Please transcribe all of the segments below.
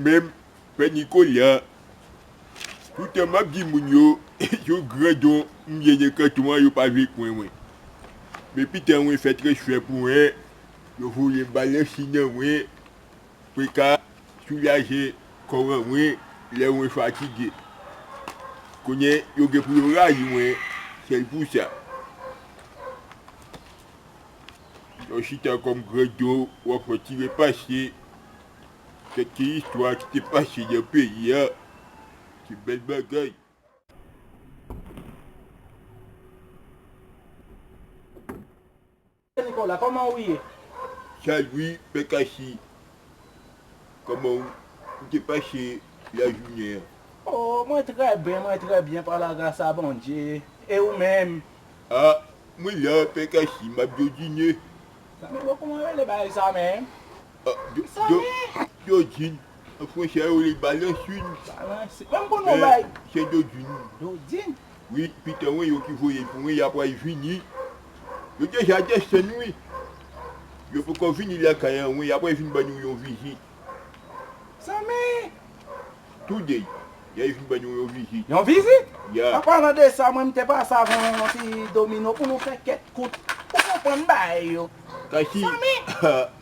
Menm pè Nicolas toutan map di moun yo yon gran don m gen nan kanton an yo pa vle kwen mwen men pitan mwen fè transfè pou 1 yo voyem balansi nan mwen. Peka soulaje kò ran mwen lè mwen fatige. Kounye yo gen pou yo rayi mwen sèl pou sa. Lè w chita kòm grandon w ap retire pase kèk ti istwa ki te pase nan peyi a se bèl bagay. Pè Nicolas koman ou ye? Salut pè Cassy koman ou te pase la jounen an? Oh mwen trè byen mwen trè byen pa la gras a Bondye e ou menm? Ah mwen la pè Cassy map jodine. Zanmi bon kouman rele bagay sa menm? Dodjine an fransè yo li Balansin men se Dodjine wi pitan wi yo ki voyel pou mwen ya pral vini yo deja desann wi yo poko vini lakay an wi ya pral vin ba nou yon vizit today ya vin ba nou yon vizit ya an palan de sa mwen mte pase avè w yon ti domino pou nou fè kèk kout ou konprann bagay yo zanmi.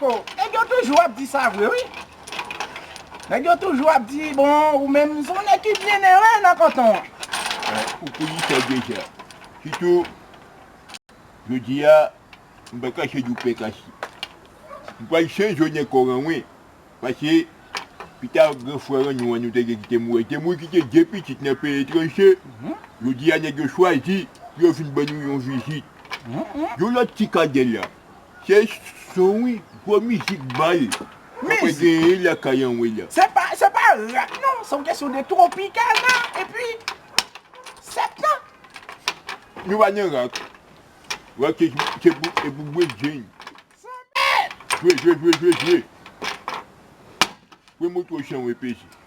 Bon nèg yo toujou ap di sa vre wi nèg yo toujou ap di bon ou menm son nèg ki byen nere nan kanton an. Ou kou di sa deja. Sitou jodi a m pa kache di w pè kasi. M pral chanje w nan kò ranwen pase pita gran frè ranyon an nou te gen ki te mouri. Li te mouri kite 2 pitit nan peyi etranje. Jodi a nèg yo chwazi pou yo vin ban nou yon vizit. Yon lòt ti kadèl la. Se son wi, gwo mizik bal. Papa genyen lakay anmwey la. Se pa se pa rap non, se yon kesyon de tropicana epi septan. Nou pa nan rak. Rak se se pou bwe jeny. Jwe jwe jwe jwe jwe. Pran moto chan wè peze.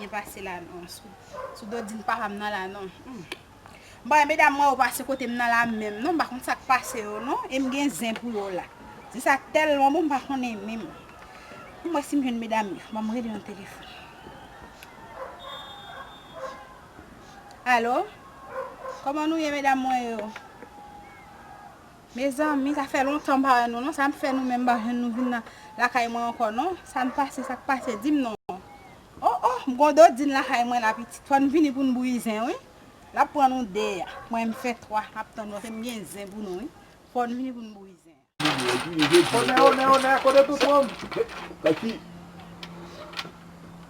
Byen pase la non. Sou dodin papa m nan la non. M pa wè medam mwen yo pase kote m nan la menm non. M pa konn sa k pase yo non. E m gen zen pou yo la. Zen sa tèlman bon m pa konnen menm. Fò m wè si m jwenn medam yo. Ban m rele yon telefòn. Alo? Kòman nou ye medam mwen yo? Mezanmi sa fè lontan m pa wè nou non sa fè nou menm m pa jwenn nou vin nan lakay mwen ankò non sa n pase sa k pase di m non oh oh m gon dodin lakay mwen la pitit fò n vini pou n bouyi zen wi l ap pran nou 2 a mwen m fè 3 m ap tann nou paske m gen zen pou nou wi fò n vini pou n bouyi zen an. Onè onè onè kote tout moun.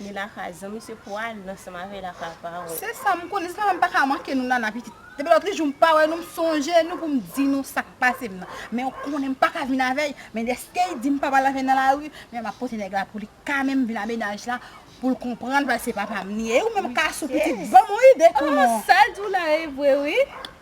Ni lakay zanmi se pou al nan sa mave lakay paran. Se sa m konnen se pa m pa ka manke nou nana pitit. Depi lòt li jou m pa wè nou m sonje nou pou m di nou sa k pase m nan. Men ou konnen m pa ka vin avè l men dèske li di m pa pral avè l nan lari men m ap pote nèg la pou li kame m vin a mennaj la pou l konprann paske se papa m li ye. E ou menm Cassou pitit ban m yon ide tou non. Sa l di w la e vre wi.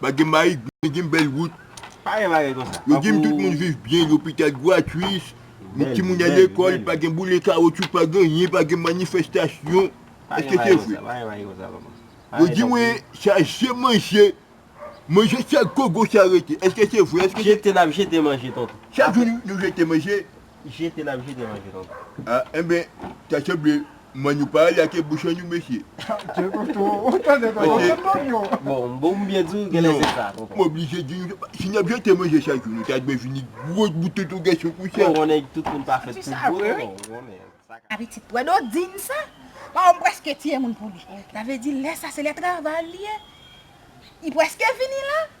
Pa gen mayik, men gen bèl wout. Pa gen bagay konsa. Yo di m tout moun viv byen, lopital gratwis, timoun al lekòl, pa gen boule kawotchou, pa gen anyen, pa gen manifestasyon. Èske se vre? Pa gen bagay konsa papa. Yo di mwen chaje manje, manje chak gogo sa rete. Èske se vre? Jete n ap jete manje tonton. Chak jou nou jete manje. Jete nap jete manje nou. A enben ta sanble m'en nou pa ale ake bouchon nou mesye. Tande tonton ou tande tonton se non yo. Bon bon m byen diw genlè se sa tonton. M oblije diw si nap jete manje chak jou nou ta dwe vini gwo bout tonton gason konsa. Bon konnen tout moun pa fèt pou gwo tonton ou konnen. A pitit pwè do din sa. Pawòm preske tiye moun pou li. Sa vle di lè sa se lè travay li ye. Li preske fini la.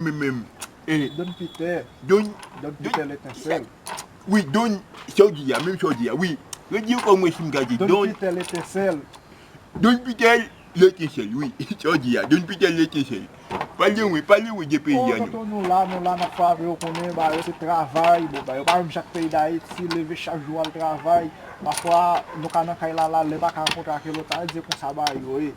Mwen menm e. Don Pitè. Don. Don Pitè Letensèl. Wi Don sa w di a menm sa w di a wi. Redi ankò mwen si m ka di. Don Pitè Letensèl. Don Pitè Letensèl wi sa w di a Don Pitè Letensèl. Pale mwen pale mwen de peyi a non. O tonton nou la nou la n ap fave yo konnen ba yo se travay bon ba yo pa menm jan ak peyi Dayiti leve chak jou al travay pafwa nou ka nan kay la la lè pa ka ankontre ak yon lòt sa a di se konsa ba yo ye.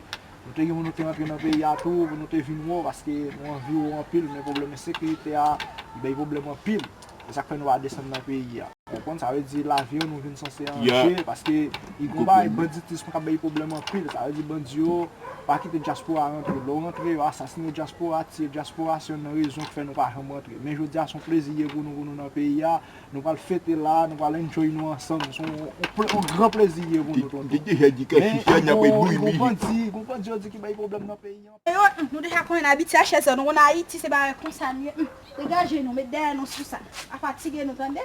Nou te gen moun nou te rantre nan peyi a tou pou nou te vin wè w paske nou anvi w anpil men pwoblèm ensekirite a li bay pwoblèm anpil e sa k fè nou pa desann nan peyi a. Ou konprann? Sa vle di lavi w nou vin sanse an danje paske li gon bagay banditism k ap bay pwoblèm anpil sa vle di bandi yo pa kite dyaspora rantre lè w rantre yo asasine dyaspora tiye dyaspora se youn nan rezon k fè nou pa janm rantre men jodi a s on plezi ye pou nou pou nou nan peyi a Nou pral fete la, nou pral enjoy nou ansanm, yon gran plezi ye pou nou tonton. Men, yon bandi, yon bandi yo di ki bay pwoblèm nan peyi an. Yo, nou deja konnen abitye a chèzè, nou konnen Ayiti se bagay konsa li ye, degaje nou, met dèyè nou sou sa, pa fatige nou tande.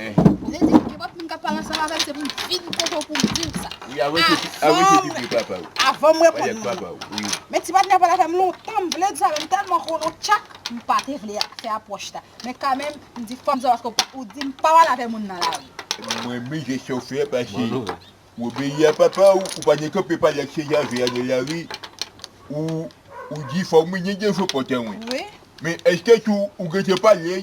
Vle di gen lòt moun kap pale ansanm avèm se pou m vin kote w pou m diw sa. Wi arete pipi papa w. Avanm reponn nou. Men ti patnè pale avèm lontan m vle di sa men m tèlman konnen w tchak m pa te vle fè apwòch la. Men kanmenm m di fòm sa paske ou di m pa pale avè moun nan lari. M renmen jès sa w fè a pase w obeyi a papa w ou pa gen kanpe pale ak se jave a nan lari ou di fòm mwen gen dèfo pòtan wi. Men èske tou ou gentan pale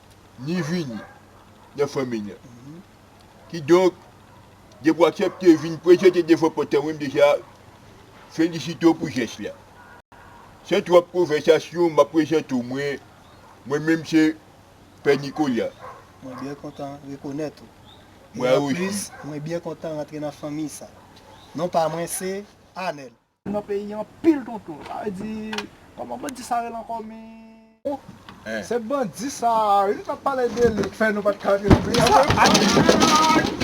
ni vini nan fanmi nan. Kidonk, depi w aksepte vin prezante devan pòt an, ou menm deja felisite w pou jès la. San twòp konvèsasyon, m ap prezante w mwen. Mwen menm se Pè Nikola. Mwen byen kontan rekonèt ou. Mwen osi. E anplis, mwen byen kontan rantre nan fanmi sa. Non pa mwen se Anèl. Nan peyi anpil tonton. Sa vle di Koman bandi sa rele ankò min. Ohh se bandi sa ui nou tap pale de li ki fè nou pat ka jwenn pri an mwen pa jwenn.